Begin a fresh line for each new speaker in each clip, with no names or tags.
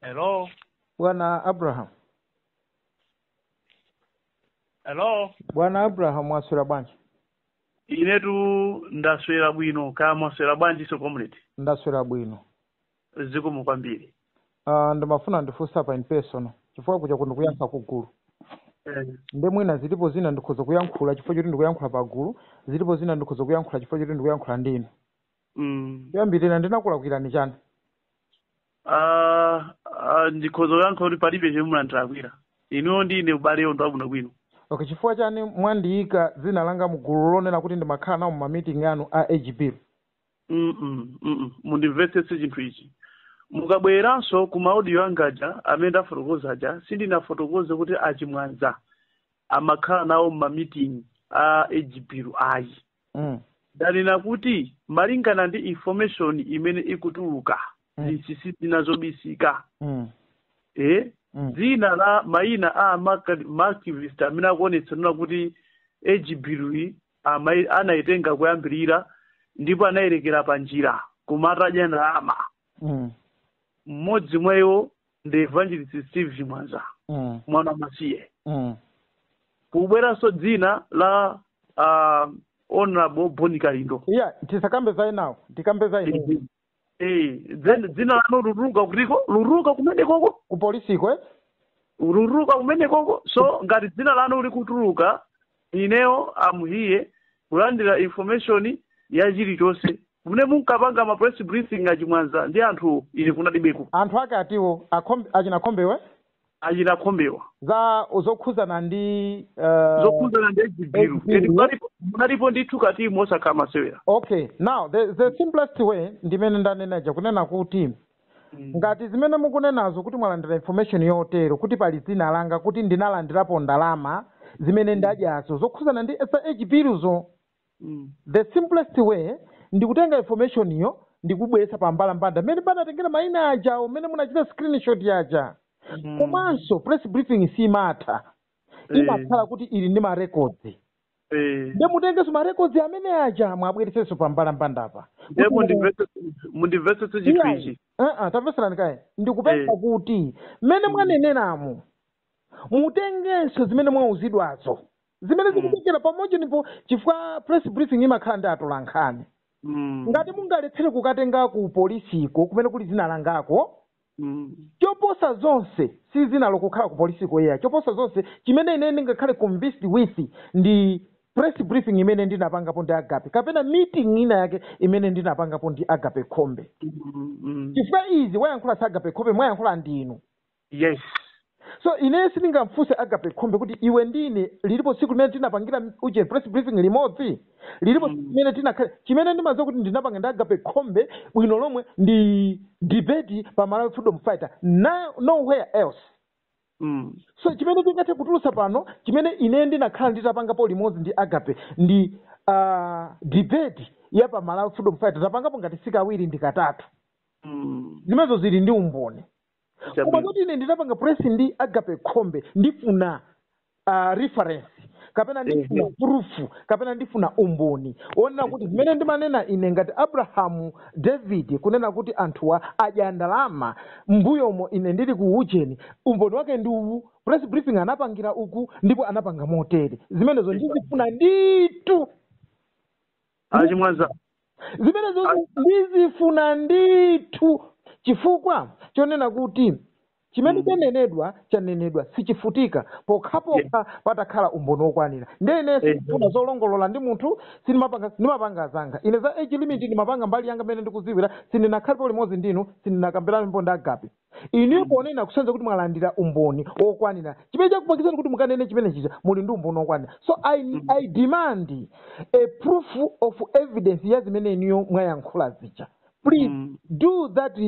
Hello?
bwana
abraham Hello? bwana
abraham mwaswera bwanji Inetu
ndaswera bwino kaya mwaswera bwanji so comrade. ndaswera bwino
Zikomo
kwambiri. uh,
ndimafuna ndifunse pa in person chifukwa kuja ndikuyankhula kugulu Eh, nde mwina zilipo zina ndikhoza kuyankhula chifukwa choti ndikuyankhula pa gulu zilipo zina ndikhoza kuyankhula chifukwa choti ndikuyankhula ndinu mm. kuyambirira ndinakulakwirani chani
Ah, ah, ndikhoza kuyankha kuti palibe chomwe munandilakwira inuyo ndi ine ubale ndi wabwino bwino okay chifukwa chani
mwandiyika dzina langa mu gulu lonena kuti ndimakhala nawo mumamiting anu a ejibiru Mm, mm, mm,
mm. mundimvetsetse chinthu ichi mukabwereranso ku maaudio anga aja amene ndafotokoza aja sindinafotokoze kuti achimwanza amakhala nawo mmamiting a ejibiru ayi mm. ndanena kuti malingana ndi information imene ikutuluka Mm. zinsinsi zina zobisika Mm. eh? Mm. dzina la mayina a amaka- maactivist amene akuonetsa kunena kuti ejibirui anayitenga kuyambirira ndipo anayerekera pa njira koma atadya ndalama Mm. mmodzi mwa iwo ndi evangelist steve chimwanza Mm. mwana wa masiye Mm. kubweranso dzina la uh, honorable boni kalindo eya tisakambe za
enawo tikambe za inu Eh, then
dzina lanu lutuluka kutiko lutuluka kumene koko ku polisi
kwe
lutuluka kumene koko so ngati dzina lanu likutuluka ineyo I'm here kulandira information ya chilichonse mmene munkapanga ma press briefing achimwanza ndi anthu ine kunalibeko anthu ake
atiwo akhombe, achina Khombewe
achina Khombewa za
zokhuzana ndi uh, zokhuzana ndi
ejibiru Ejibiru. eti munalipo- munalipo ndithu katimu osakhala masewera okay now
the, the simplest way ndimene ndanenaja kunena kuti ngati zimene mukunenazo kuti mwalandira information yotero kuti pali dzina langa kuti ndinalandirapo ndalama zimene ndadyazo zokhuzana ndi za ejibiruzo Mm. the simplest way ndikutenga information iyo ndikubweretsa pa mbalambanda mmene panatengera mayina ajawo mmene munachita screenshot aja Mm. komanso press briefing simatha Eh. imakhala kuti ili ndi marekodzi Eh. nde mutengenso marekodzi amene aja muwabweretsenso pa mbalambanda apa Ndiye mundimvetse
mundimvetse chinthu Iyayi. ichi. Uh-uh, tamvetserani kaye
ndikupempha Eh. kuti mmene mwaneneramo mutengenso zimene mwauzidwazo zimene Mm. zikutengera pamodzi ndipo chifukwa press briefing imakhala ndi atolankhani Mm. ngati mungalephere kukatenga ku polisiko kumene kuli dzina langako Mm. choposa zonse si dzina lokukhala ku polisiko iyayi choposa zonse chimene ine ndingakhale convinced with ndi press briefing imene ndinapangapo ndi agape kapena meeting ina yake imene ndinapangapo ndi agape khombe Mm. Mm. chifukwa izi wayankhula si agape khombe mwayankhula ndinu yes
so
ineyo sindingamfunse agape khombe kuti iwe ndine lilipo tsiku limene tinapangira uje press briefing limodzi lilipo tsiku limene tinakhala chimene ndimadziwa kuti ndinapanga ndi agape khombe bwino lomwe ndi debate pa malawi freedom fighter na- nowhere else mm. so chimene tingathe kutulutsa pano chimene ine ndinakhala nditapangapo limodzi ndi agape ndi uh, debate ya pa malawi freedom fighter tapangapo ngati sikawiri ndi katatu mm. zimenezo zili ndi umboni koma Chabwino. kuti ine ndinapanga press ndi agape khombe ndifuna uh, reference kapena ndifuna Ehe. proof kapena ndifuna umboni onena kuti zimene ndimanena ine ngati abrahamu david kunena kuti anthuwa adya ndalama mbuyomo ine ndili ku ujeni umboni wake ndi uwu press briefing anapangira uku ndipo anapanga motere zimenezo ndizifuna nditu achimwaza zimenezo ndizifuna ndithu chifukwa chonena kuti chimene Mm. chanenedwa chanenedwa sichifutika pokhapokha patakhala umboni wokwanira ndiye ine Amen. sifuna zolongolola ndi munthu sinimapanga zanga ine za age limit ndimapanga mbali yanga mmene ndikuziwira sindinakhalipo limodzi ndinu sindinakambiranepo ndi agape inuyo ponena kusanza kuti mwalandira umboni wokwanira chimene chakupangitsani kuti mukanene chimene chija muli ndi umboni wokwanira so I, i demand a proof of evidence ya zimene inuyo mwayankhula zija please Mm. do that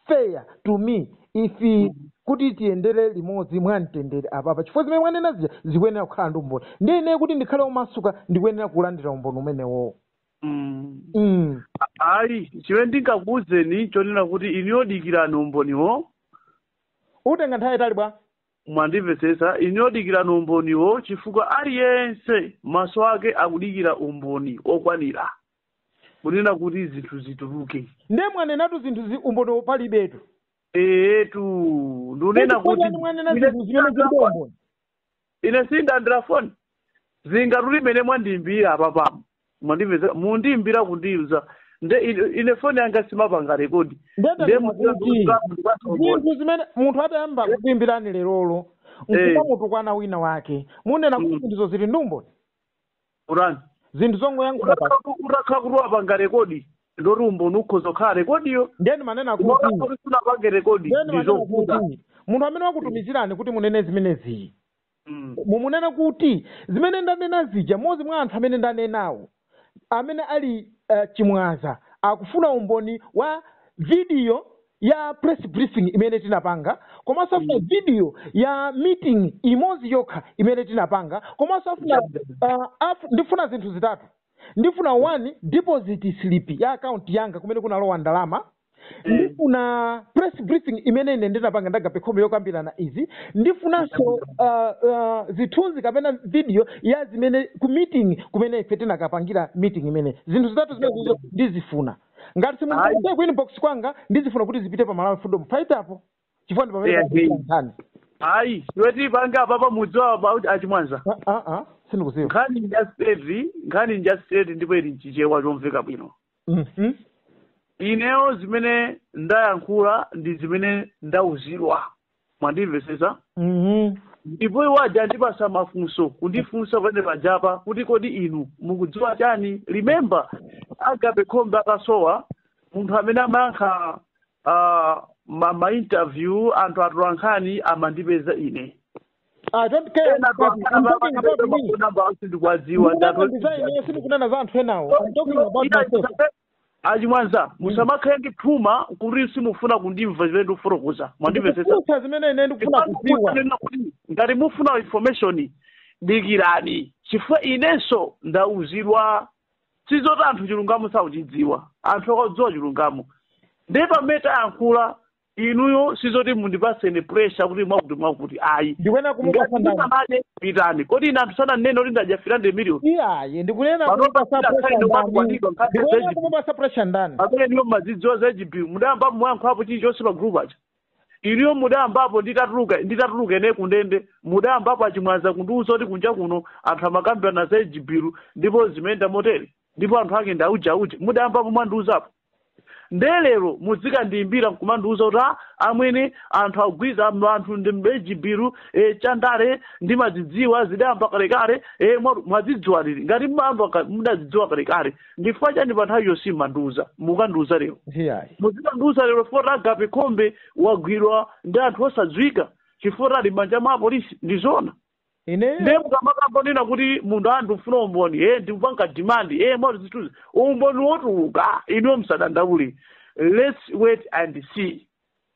fair to me if kuti tiyendere limodzi mwamtendere apapa chifukwa zimene mwanena zija zikuyenera kukhala ndi umboni ndiye ineyo kuti ndikhale omasuka ndikuyenera kulandira umboni umenewowo Mm.
mm. ayi chimene ndingakuwuzeni chonena kuti inuyo dikirani
umboniwo utenga nthawi yaitali bwa mwandimvetsetsa
inuyo dikirani umboniwo chifukwa aliyense maso ake akudikira umboni okwanira kunena kuti zinthu zituluke nde
mwanenatu zinthu zi umboni palibetu eetu
ndunena kuti Ndikufunani mwanena zinthu zimene
zilibe umboni
ine sindalandira foni zinga tuli mmene mwandiimbira apapa mwandimvesa mundiimbira kundiuza nde ine- ine foni yanga simapanga rekodi Ndende nde ndikuti
mukulandiuza zinthu zimene munthu atayamba kukuimbirani lerolo Eh. nkumamutukwana wina wake munena kuti ndizo zili ndi umboni
urani
zinthu zongoyankhula pa utakhala
kuti wapanga rekodi ndoti umboni ukhoza kukhala rekodiyo nde ndimanena kuti
kuti sunapange
rekodi nde ndimanena ndizovuta kuti
munthu amene wakutumizirani kuti munene zimenezi Mm. mumunene kuti zimene ndanena zija mmodzi mwa anthu amene ndanenawo amene ali uh, chimwaza akufuna umboni wa vidiyo ya press briefing imene tinapanga komanso afuna Mm. video ya meeting imodzi yokha imene tinapanga komanso afuna Chabwino. uh, af, ndifuna zinthu zitatu ndifuna one deposit slip ya account yanga kumene kunalowa ndalama Mm. ndifuna press briefing imene ine ndinapanga ndagape khombe yokambirana izi ndifunanso uh, uh, zithunzi kapena video ya zimene ku meeting kumene ife tinakapangira meeting imene zinthu zitatu zimenezo ndizifuna ngati simungaike ku inbox kwanga ndizifuna kuti zipite pa malawi freedom fighter apo chifukwa ndi pamene Yeah, pakuchita hey. nkhani ayi iwe
tipange apapa mudziwa about achimwanza Ah, ah, ah, sindikuziwa
nkhani nja straight
nkhani nja straight ndipo ili mchichewa chomveka bwino Mhm. ineyo zimene ndayankhula ndi zimene ndauzidwa mwandimvesesa Mhm. ndipo iwo aja andipasa mafunso kundifunsa pene pajapa kuti kodi inu mukudziwa chani remember agape khombe akasowa munthu amene amayankha uh, ma, ma interview anthu atolankhani amandipeza ine I
don't care. ena I'm talking about me. sindikuwadziwa Ndikukunena za ineyo sindikunena za anthu enawo. I'm talking about myself. achimwanza
musamakhale ndi phuma kuti simufuna kundimva zimene ndikufotokoza mwandimvetsetsa ndikufunsa zimene ine ndikufuna
kudziwa Ndikufunsa kuti ngati
mufuna information dikirani chifukwa inenso ndauzidwa sizoti anthu chilungamo sakuchidziwa anthu akadziwa chilungamo ndiye pamene tayankhula inuyo sizoti mundipase ine pressure kuti mwakuti mwakuti ayi ndikuyenera kumupasa
ngati ndani ndinamane
pitani kodi ine anthu sananene kuti ndadya three hundred million iyayi ndikunena
Panopa kumupasa sina pressure time ndani wakwanidwa nkhani ndikuyenera zachipi. kumupasa pressure ndani pamene inuyo mumazidziwa
za age bill mudayambapo mwayankhulapo chilichonse pa group aja inuyo mudayambapo nditatuluka nditatuluka ine kundende mudayambapo achimwaza kundiuza kuti kunja kuno anthu amakambirana za age bill ndipo zimayenda motere ndipo anthu ake ndi auja auja mudayambapo mwandiuzapo nde lero mudzikandiyimbira nkumandiuza kuti "Ah, amwene anthu akugwiza m- anthu ndi age bill e, chandale ndimadzidziwa zidayamba kalekale e, mwa- mwadzidziwa liti ngati mwayamba ka- mudadzidziwa kalekale ndifukwa chani pa nthawi yonse simmandiuza mukandiuza lero iyayi muzikandiuza lero foti agape khombe wagwidwa ndi anthu osadziwika chifukwa ali mmanja mwa apolisi ndi zona ineyo ndiye mukamakangonena kuti munthu ndikufuna umboni e ndikupanga demand e moti zithuzi umboni wotuluka inuyo musadandaule let's wait and see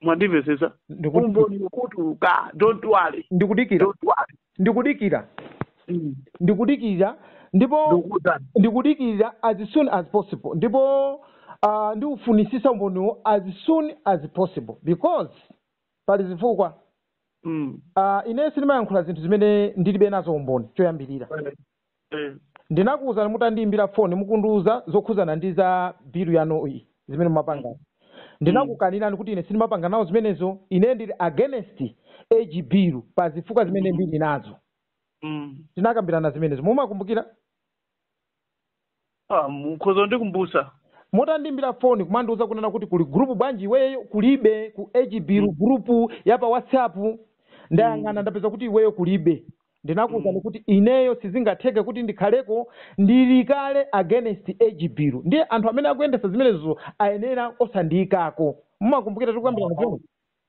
mwandimvetsetsa Ndiku- umboni wotuluka don't worry ndikudikira don't worry ndikudikira
Mm. ndikudikira ndipo ndikutani ndikudikira as soon as possible ndipo uh, ndiufunisisa umboniwo as soon as possible because pali zifukwa Mm. uh, ine sindimayankhula zinthu zimene ndilibe nazo umboni choyambirira Eh. ndinakuwuzani mutandiyimbira foni mukundiwuza zokhudzana ndi za bilu yanu iyi zimene mumapanga ndinakukanirani kuti ine sindimapanga nawo zimenezo ine ndili against age bill pa zifukwa zimene ndili nazo Mm. tinakambirana zimenezo mumakumbukira
ah, mukhoza ndikumbutsa
mutandiimbira foni kumandiuza kunena kuti kuli gurupu bwanji iweyo kulibe ku age bill gurupu ya pa whatsapp ndayang'ana ndapeza kuti iweyo kulibe ndinakuuzani kuti ineyo sizingatheke kuti ndikhaleko ndili kale against age bill ndiye anthu amene akuyendesa zimenezo ayenera osandiyikako mumakumbukira tikukambirana zimene